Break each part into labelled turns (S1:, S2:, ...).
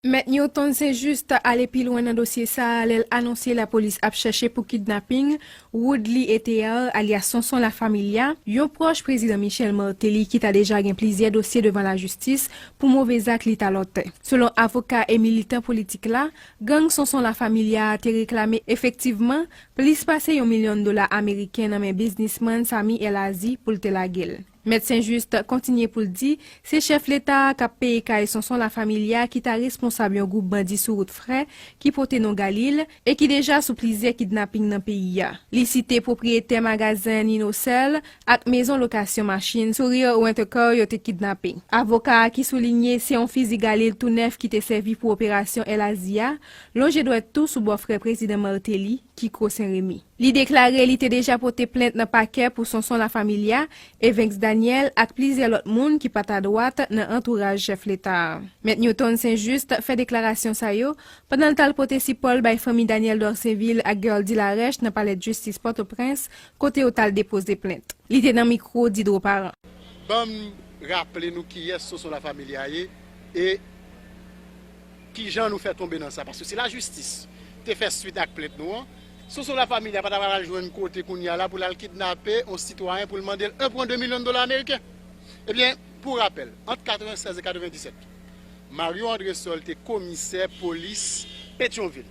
S1: Mèt Newton St-Juste ale pi lwen nan dosye sa a lè l anonse lapolis ap chèche pou kidnaping Woodly Ethéard alyas Sonson La Familia, yon pwòch Prezidan Michel Martelly ki ta deja gen plizyè dosye devan lajistis pou move zak li ta lòtè. Selon avoka e militan politik la, gang Sonson La Familia a te reklame efektivman plis pase yon milyon dola ameriken nan men biznisman Samy El Azy pou l te lage l. Mèt St-Juste kontinye pou l di, se chèf leta a k ap peye kay Sonson La Familia ki ta responsab yon gwoup bandi sou wout frè ki pote non Galil e ki deja sou plizyè kidnaping nan peyi a. Li site pwopriyetè magazen Ninocell ak mezon lokasyon machin Sourire Rent-A-Car yo te kidnape. Avoka a ki soulinye se yon fizi Galil tou nèf ki te sèvi pou operasyon El Azi a, lonje dwèt tou sou bòfrè prezidan Martelly, Kiko St-Remy. Li deklare li te deja pote plent nan pakè pou Sonson La Familia, Evinx Daniel ak plizyè lòt moun ki pa t adwat nan antouraj chèf leta a. Mèt Newton St Juste fè deklarasyon sa yo pandan l t al pote sipò l bay fanmi Daniel Dorcénvil ak Guerldy Larèche nan palèdjistis Pòtoprens kote yo t al depoze plent. Li te nan mikwo Didro Parent. Banm
S2: raple nou kiyès Sonson La Familia ye e. Kijan nou fè tonbe nan sa? Paske si lajistis te fè swit ak plent nou an, Sonson Lafamilia pa ta pral jwenn kote kounye a la pou l al kidnape yon sitwayen pou l mande l 1,2 milyon dola ameriken. Ebyen, pou rapèl, ant 96 e 97, Mario Andresol te komisè polis Petyonvil.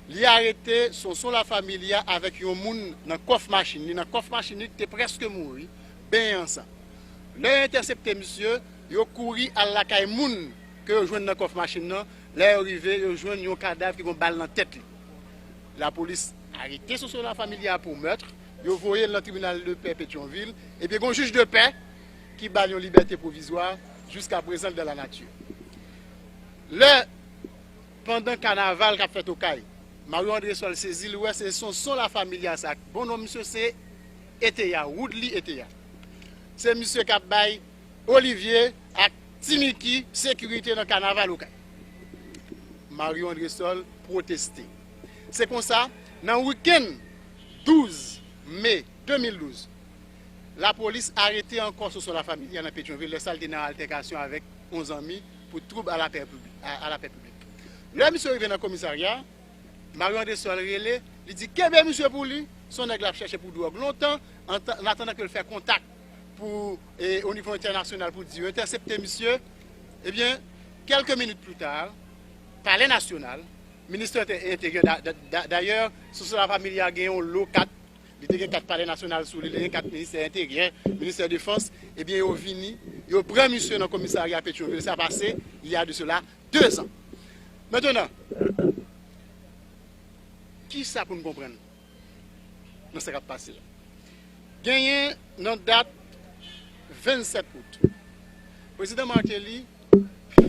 S2: Li arete Sonson Lafamilia avèk yon moun nan kòf machin li, nan kòf machin li ki te prèske mouri, benyen an san. Lè yo entèsepte misye, Yo kouri al lakay moun ke yo jwenn nan kòf machin nan, lè yo rive yo jwenn yon kadav ki gon bal nan tèt li. Lapolis arete Soso La Familia pou meurtre, yo voye l nan tribinal de pè Petyonvil, ebyen gon jij de pè ki ba l yon libète pwovizwa, jiska prezan l dan la nati. Lè pandan kanaval kap fèt Okay, Mario Andresol sezi li wè se Sonson La Familia sa, bon non misye se Eteya, Woodly Eteya. Se misye kap bay Olivier ak Ti Micky sekirite nan kanaval Okay. Mario Andresol pwoteste. Se konsa, nan wikenn 12 me 2012, lapolis arete ankò Soso La Familia nan Petyonvil lè sa l te nan altèkasyon avèk yon zanmi pou twoub a lapè piblik. Lè misye rive nan komisarya, Mario Andresol rele, li di kenbe misye pou li, son nèg l ap chèche pou dwòg lontan, ann atandan ke l fè kontak. pou o nivo entènasyonal pou di yo entèsepte misye, ebyen kèlke minit pli ta, palè nasyonal, ministè enteryè, dayè sou sou la familya gen yon lo kat, li te gen kat palè nasyonal sou li, li te gen kat ministè enteryè, ministè defans, ebyen yo vini, yo pran misye nan komisarya Petyonvil, sa pase, y a de sela 2 zan. Mentenan, kisa pou n konprann? nan sa k ap pase a. Genyen nan dat 27 out, Prezidan Martelly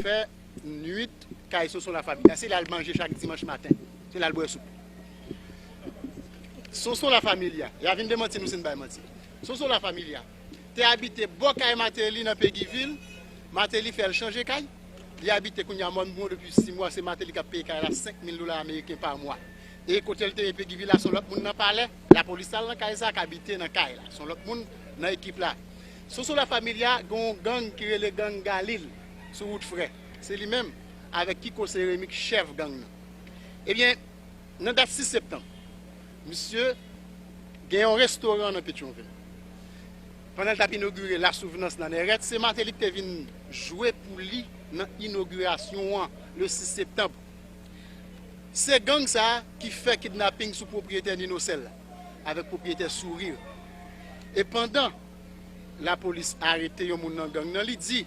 S2: fè nwit kay Sonson Lafamya. A se la l manje chak dimanch maten, se la l bwè soup. Sonson Lafamilya, y a vin demanti nou si n bay manti, Sonson Lafamilya te abite bò kay Martelly nan Peguivil, Martelly fè l chanje kay, li abite kounye a Mòn Bouyon depi 6 mwa, se Martelly k ap peye kay la 5 mil dola ameriken pa mwa. E kotel te ye pegi vila son lòt moun nan palè lapolis tal nan kay sa ka bite nan kay la son lòt moun nan ekip la sousou la familia gen yon gang ki rele gang galil sou wout frè se li menm avèk kiko se remi k chèf gang nan ebyen nan dat 6 septanm misye gen yon restoran nan petyonvil pandan l tap inogire la souvnans nan nèrèt se mateli k te vin jwe pou li nan inogirasyon an le 6 septanm. Se gang sa ki fè kidnaping sou pwopriyetè Ninocell la avèk pwopriyetè Sourire. E pandan lapolis arete yon moun nan gang nan li di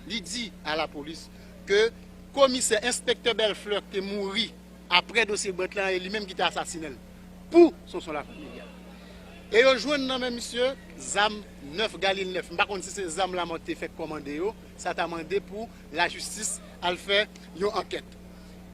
S2: li di a lapolis ke komisè, enspektè Bellefleur ki te mouri aprè dosye Brant lan e li menm ki te asasinen l pou Sonson La Familia. E yo jwenn nan men misye zam 9 galil 9. M pa konn si se zam Lamothe te fèk kòmande yo. Sa ta mande pou lajistis al fè yon ankèt.